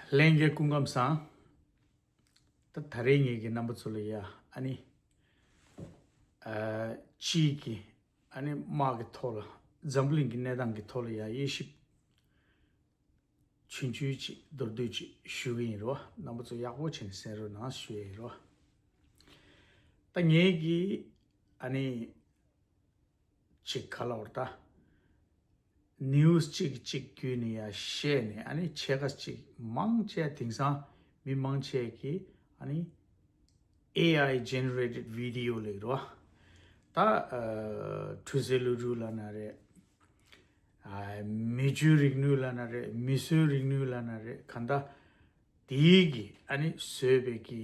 ལྷན་རྒྱས་སྐུ་ཁམས་བཟང། ད་ད་རེས་ངེད་ཀྱི་རྣམ་པ་ཚོ་ལ་ཡ་ཨ་ནི། སྤྱིའི་གི་ཨ་ནི་དམག་གི་ཐོག་ལ་འཛམ་བུ་གླིང་གི་གནས་སྟངས་ཀྱི་ཐོག་ལ་ཡ་དབྱེ་ཞིབ། བྱུས་འཇུས་ཅིག་མདོར་བསྡུས་ཅིག་ཞུ་གི་ཡིན་རོ་རྣམ་པ་ཚོ་ཡག་པོ་བྱས་ནས་གསན་རོ་ན་ཞུ་ཡ་ཡིན་རོ། ད་ངེད་ཀྱི་ཨ་ནི། ཅིག་ག་ལ་བོར་ད། news གཅིག་གཅིག་བརྒྱུད་ནས་ཡ་བཤད་ནས་ཨ་ནི་ཕྱེད་ཀ་ཅིག་མང་ཆེ་དེང་སང་མི་མང་ཆེ་གི་ཨ་ནི AI generated video ལེགས་རོ་ད་འཁྲུལ་ཟེར་ལུས་འཁྲུལ་ལ་ན་རེ་མི་རྒྱུས་རིག་ནུས་ལ་ན་རེ་མི་བཟོས་རིག་ནུས་ལ་ན་རེ་ག་ད་དེའི་གི་ཨ་ནི་བཟོས་པའི་གི།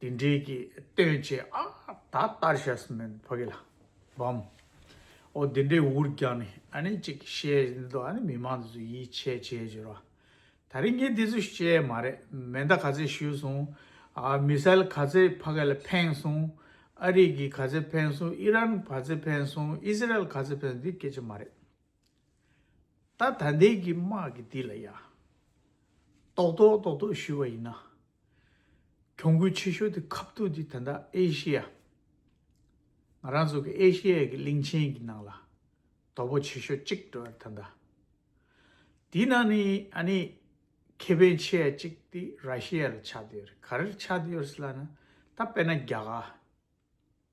དེ་འདྲའི་གྱི་སྟོན་བྱེད་ཨ། ད་ལྟར་བྱས་སུ་མེད་ཕ་གི་ལ། བའམ། ཨོ་དེ་འདྲའི་འུར་རྒྱག་ནི་ཨ་ནི་ཅིག་བཤད་འདི་ཚོ་ཨ་ནི་མི་མང་ཚོས་ཡིད་ཆེས་བྱེད་ཅེས་རོ། ད་རིང་ངས་འདི་ཚོ་བཤད་མ་རེད་མེ་མདའ་ག་ཚོད་ཞུས་སོང། མི་སེལ་ག་ཚོད་ཕ་གི་ལ་འཕེན་སོང། ཨ་རིག་གི་ག་ཚོད་འཕེན་སོང་ཨི་རན་ག་ཚོད་འཕེན་སོང་ཨི་སི་རལ་ག་ཚོད་འཕེན་སོང་འདི་སྐད་ཆ་མ་རེད། ད་ད་ལྟའི་གི་དམག་གི་འདི་ལ་ཡ། ཏོག་ཏོག་ཏོག་ཏོག་ཞུས་བ་ཡིན་ན། གྱོང་གུད་ཆེ་ཤོས་དེ་ཁབ་ཐུག་དེ་ད་ལྟ་ཨེ་ཤི་ཡ། ང་རང་ཚོ་གི་ཨེ་ཤི་ཡའི་གི་གླིང་ཆེན་གི་ནང་ལ་དོ་པོ་ཆེ་ཤོས་གཅིག་འགྲོ་ཡ་ད་ད། དེ་ནང་ནི་ཨ་ནི་ཁེ་ཕན་ཆེ་ཡ་གཅིག་དེ་ར་ཤི་ཡ་ལ་ཆགས་དེ་ཡོད་རེད་ག་རེར་ཆགས་དེ་ཡོད་སི་ལ་ན་ད་དཔེ་ན་རྒྱ་གར།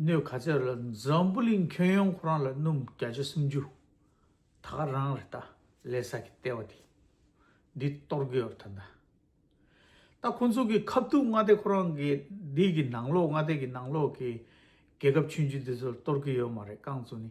སྣོད་ག་ཚད་ལ་འཛམ་བུ་གླིང་ཁྱོན་ཡོངས་ཁོ་རང་ལ་སྣུམ་བརྒྱ་ཆ་སུམ་ཅུ་ད་ག་རང་རེད་ད་ལས་ས་གི་ལྟེ་བ་དེ་འདི་གཏོར་དགོས་ཡོད་ད་ད་ད་ཁོ་ཚོ་གི་ཁབ་ཐུག་མངའ་སྡེ་ཁོ་རང་གི་འདི་གི་ནང་ལོགས་མངའ་སྡེ་གི་ནང་ལོགས་གི་རྒྱལ་ཁབ་ཆུན་ཆུན་འདི་ཚོར་གཏོར་གི་ཡོད་མ་རེད་རྐང་ཚོ་ནི་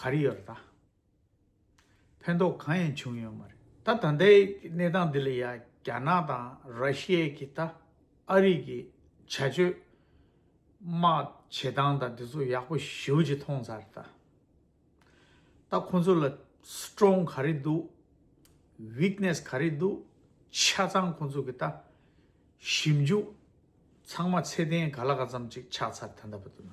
ག་རེ་ཡོད་ད། ཕན་ཐོགས་གང་ཡང་བྱུང་ཡོད་མ་རེད་ད་ད་ལྟའི་གནས་སྟངས་འདི་ལ་ཡང་རྒྱ་ནག་དང་ར་ཤི་ཡའི་གི་ད་ཨ་རིག་གི་བྱ་སྤྱོད། དམག་བྱེད་སྟངས་དང་དེ་ཚོ་ཡག་པོ་ཞིའོ་ཅི་མཐོང་ཚར་རེད་ད། ད་ཁོང་ཚོ་ལ Strong ག་རེ་འདུག Weakness ག་རེ་འདུག་ཆ་ཚང་ཁོང་ཚོ་གི་ད་ཞིབ་འཇུག་ཚང་མ་ཚད་ལྡན་ག་ལ་ག་ཙམ་ཅིག་ཆགས་ཚར་ད་ད་བ་དུ་ན།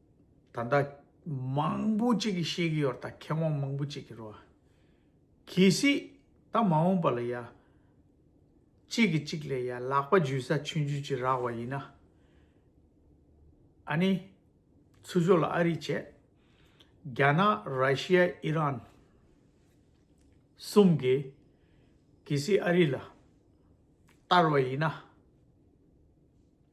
ད་ལྟ་མང་པོ་གཅིག་གིས་ཤེས་ཀྱི་ཡོད་ད་མཁས་དབང་མང་པོ་གཅིག་གི་རོ། གལ་སྲིད་ད་མ་འོངས་པ་ལ་ཡ། གཅིག་གིས་གཅིག་ལས་ཡ་ལག་པ་འཇུས་ས་ཆུན་འཇུས་ཀྱི་རག་བ་ཡིན་ན། ཨ་ནི། ཚུར་ཤོག་ལ་ཨ་རི་བྱས། རྒྱ་ནག་ར་ཤི་ཡ་ཨི་རན། གསུམ་གིས། གལ་སྲིད་ཨ་རི་ལ། བསྟར་བ་ཡིན་ན།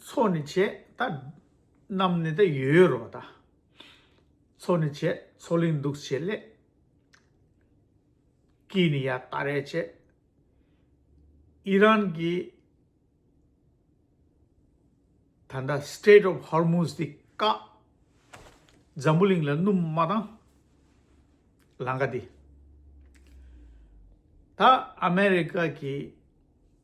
ཚོགས་ནི་བྱས་ད་རྣམས་ནི་ད་ཡོད་ཡོད་རོ་ད། ཚོགས་ནི་བྱས་ཚོགས་ལིང་འདུག་བྱས་སླད། ཀྱིས་ནི་ཡ་ད་རེ་བྱས། ཨི་རན་གྱིས་ད་ད Strait of Hormuz དེ་བཀག། འཛམ་བུ་གླིང་ལ་སྣུམ་མ་དང་ལང་ཀ་དེ། ད་ཨ་མེ་རི་ཀ་གྱིས།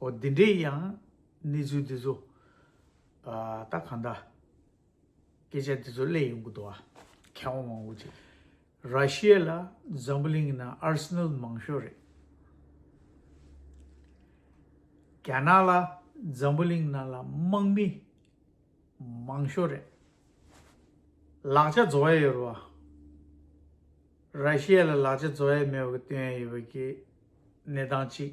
འོ་དེ་འདྲའི་ཡང་གནས་ཚུལ་འདི་ཚོ་ད་གང་ལྟར་སྐད་ཆ་འདི་ཚོ་གླེང་ཡོང་གི་འདུག་ཨ་མཁས་དབང་མང་བོ་ཅིག་ར་ཤི་ཡ་ལ་འཛམ་བུ་གླིང་གི་ནང Arsenal མང་ཤོས་རེད། རྒྱ་ནག་ལ་འཛམ་བུ་གླིང་ནང་ལ་དམག་མི་མང་ཤོས་རེད། ལག་ཆ་བཟོ་ཡ་ཡོད་རེད། ར་ཤི་ཡ་ལ་ལག་ཆ་བཟོ་ཡ་མེད་པ་གི་སྟོན་ཡ་ཡོད་པ་གི་གནས་སྟངས་གཅིག།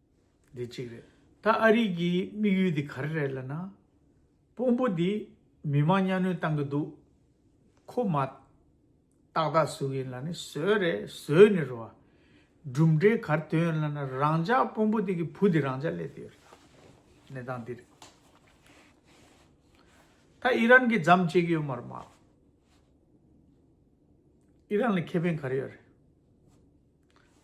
འདི་གཅིག་རེད། ད་ཨ་རིག་གི་དམིགས་ཡུལ་དེ་ག་རེ་རེད་ལ་ན། དཔོན་པོ་དེ་མི་མང་གཉའ་གནོན་བཏང་གི་འདུག་ཁོ་མ། ཏག་ཏག་ཟུག་ཡིན་ལ་ནི་ཟོས་རེད་ཟོས་ནི་རོ། གྲུབ་འབྲས་གར་ཐོན་ཡོད་ལ་ན་རང་ཅག་དཔོན་པོ་དེ་གི་བུ་དེ་རང་ཅག་སླེབས་ཏེ་ཡོད་རེད་ད། གནས་སྟངས་འདི་རེད། ད་ཨི་རན་གི་འཇམ་བཅད་གི་ཡོད་མ་རེད་མ། ཨི་རན་ལ་ཁེ་ཕན་ག་རེ་ཡོད་རེད།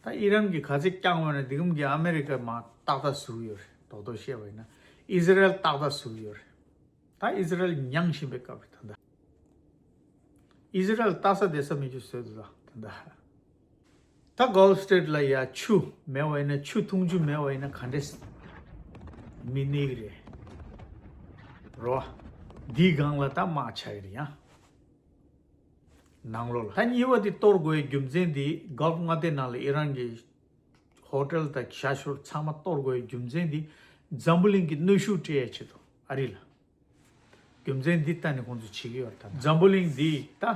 ད་ཨི་རན་གྱི་ག་ཚད་བསྐྱངས་བ་ནི་འདི་གམ་གྱི་ཨ་མེ་རི་ཀ་མ་ཏག་ཏག་ཟུག་ཡོད་རེད་དོག་དོག་བཤད་པ་ཡིན་ན་ཨི་ཟི་རལ་ཏག་ཏག་ཟུག་ཡོད་རེད་ད་ཨི་ཟི་རལ་མྱངས་བཞིན་པའི་སྐབས་རེད་ད་ཨི་ཟི་རལ་ལྟ་ས་བསྡད་ས་མི་འགྱུར་ཟོལ་དུ་ད་ད་ད Gulf State ལ་ཡ་ཆུ་མེད་བ་ཡིན་ན་ཆུ་འཐུང་ཆུ་མེད་བ་ཡིན་ན་ག་འདྲས་མི་གནས་གི་རེད་རོ་འདིའི་སྒང་ལ་ད་དམག་ཆ་ཡི་རེད་ཡ། ནང་ལོ་ལྷ་གཉིས་པ་དེ་གཏོར་དགོས་རྒྱུ་མཚན་དེ Gulf མངའ་སྡེ་ནང་ལ་ཨི་རན་གྱི Hotel དང་ཞྭ་ཞོར་ཚང་མ་གཏོར་དགོས་རྒྱུ་མཚན་དེ་འཛམ་བུ་གླིང་གི་གནོད་ཤུགས་སྤྲད་ཡ་བྱེད་དོ་ཨ་རི་ལ་རྒྱུ་མཚན་དེ་ལྟ་ནས་ཁོང་ཚོ་བྱེད་ཀྱི་ཡོད་ད་འཛམ་བུ་གླིང་དེ་ད་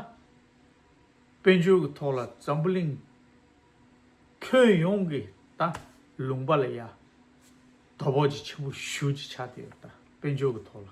དཔལ་འབྱོར་གྱི་ཐོག་ལ་འཛམ་བུ་གླིང་ཁྱོན་ཡོངས་ཀྱི་ད་ལུང་པ་ལ་ཡ་དོ་བོགས་ཅི་ཆེན་པོ་ཞུ་ཅི་ཆ་དེ་ཡོད་ད་དཔལ་འབྱོར་གྱི་ཐོག་ལ།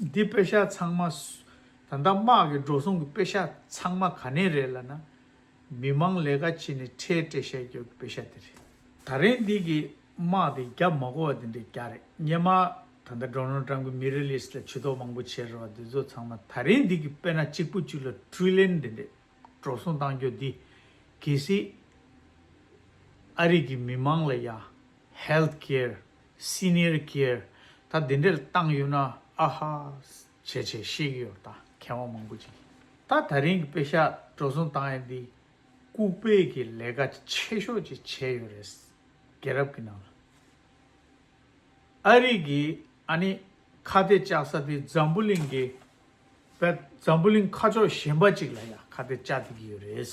འདི་དཔེ་ཤག་ཚང་མ། ད་ལྟ་དམག་གི་འགྲོ་སོང་གི་དཔེ་ཤག་ཚང་མ་ག་ནས་རེད་ལ་ན། མི་མང་ལས་ཀ་བྱེད་ནས་ཁྲལ་སྤྲད་བཤད་རྒྱོ་གི་དཔེ་ཤག་དེ་རེད། ད་རེན་འདི་གི་དམག་དེ་རྒྱ་མ་གོ་བ་དེ་འདྲ་རྒྱ་རེད་སྙེ་མ། ད་ལྟ་འགྲོ་ནོར་ཀྲང་གི་མི་རེ་ལིས་ལ་བྱི་དོག་མང་པོ་བྱེད་རེ་བ་འདི་ཚོ་ཚང་མ་ད་རེན་འདི་གི་དཔེ་ན་གཅིག་པོ་གཅིག་ལ Trillion དེ་འདྲས་འགྲོ་སོང་བཏང་རྒྱོ་འདི་གལ་སྲིད་ཨ་རིག་གི་མི་མང་ལ་ཡ། Health Care། སི་ནེ་རི་ཀེར་ད་དེ་འདྲས་བཏང་ཡོད་ན་ཨ་ཧ། བྱས་བྱས་ཤེས་ཀྱི་ཡོད་ད་མཁས་དབང་མང་པོ་ཅིག་ད་ད་རིང་གི་དཔེ་ཤག་འགྲོ་བཟུང་བཏང་ཡས་འདི་ལྐུག་སྤེལ་གི་ལས་ཀ་ཆེ་ཤོས་ཅིག་བྱས་ཡོད་རེད་རྒྱལ་རབས་ཀྱི་ནང་ལ་ཨ་རིག་གི་ཨ་ནི་ཁ་གཏད་བཅག་ས་དེ་འཛམ་བུ་གླིང་གི་བལ་འཛམ་བུ་གླིང་ཁ་ཕྱོགས་གཞན་པ་ཅིག་ལ་ཡང་ཁ་གཏད་བཅག་བསྡད་ཀྱི་ཡོད་རེད།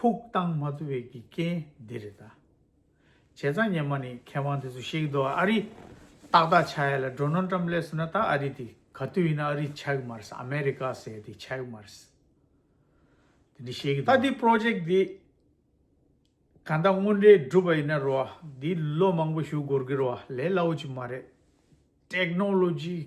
ཕུགས་བཏང་མ་ཐུབ་པའི་ཀྱི་རྐྱེན་འདི་རེད་ད། བྱས་ཙང་ཉན་མ་ནི་མཁས་དབང་དེ་ཚོ་ཤེས་ཀྱི་འདུག་ཨ་རི། ཏག་ཏག་ཆ་ཡ་ལ་འགྲོ་ནོ་འགྲམ་ལས་སུ་ན་ད་ཨ་རི་དེ་ག་དུས་ཡིན་ན་ཨ་རི་ཆགས་ཀྱི་མ་རེད་ཨ་མེ་རི་ཀ་ཟེར་དེ་ཆགས་ཀྱི་མ་རེད། དེ་འདྲ་ཤེས་ཀྱི་འདུག་ད་དེ project དེ་ག་ད་དངོས་འབྲེལ་སྒྲུབ་པ་ཡིན་ན་རོ་དེ་ལོ་མང་པོ་ཞུ་དགོར་གྱི་རོ་ལས་སླ་བོ་ཅིག་མ་རེད། Technology།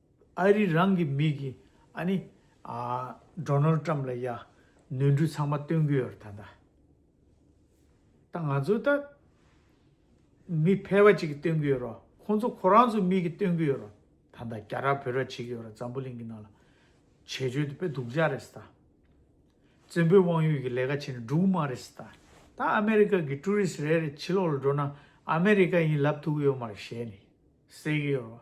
ཨ་རི་རང་གི་མི་གི་ཨ་ནི Donald Trump ལ་ཡ་ནོན་འཁྲུལ་ཚང་མ་སྟོན་གི་ཡོད་རེད་ད། ད་ང་ཚོ་ད་མི་ཕལ་བ་ཅིག་གི་སྟོན་གི་ཡོད་རོ་ཁོང་ཚོ་ཁོ་རང་ཚོ་མི་གི་སྟོན་གི་ཡོད་རོ། ད་ད་རྒྱ་ར་བོད་ར་བྱེད་གི་ཡོད་ར་འཛམ་བུ་གླིང་གི་ནང་ལ་བྱེད་བཅོལ་དུ་དཔེ་སྡུག་ཅག་རེད་ད། བཙན་པོའི་དབང་ཡོད་གི་ལས་ཀ་བྱེད་ནི་འགྲུག་མ་རེད་ད། ད་ཨ་མེ་རི་ཀ་གི་ཀྲུའུ་རིས་རེ་རེ་ཕྱི་ལོག་ལ་འགྲོ་ན་ཨ་མེ་རི་ཀ་ཡིན་ལབ་ཐུག་གི་ཡོད་མ་རེད་ཞེས་ནི་ཟེར་གི་ཡོད་རོ།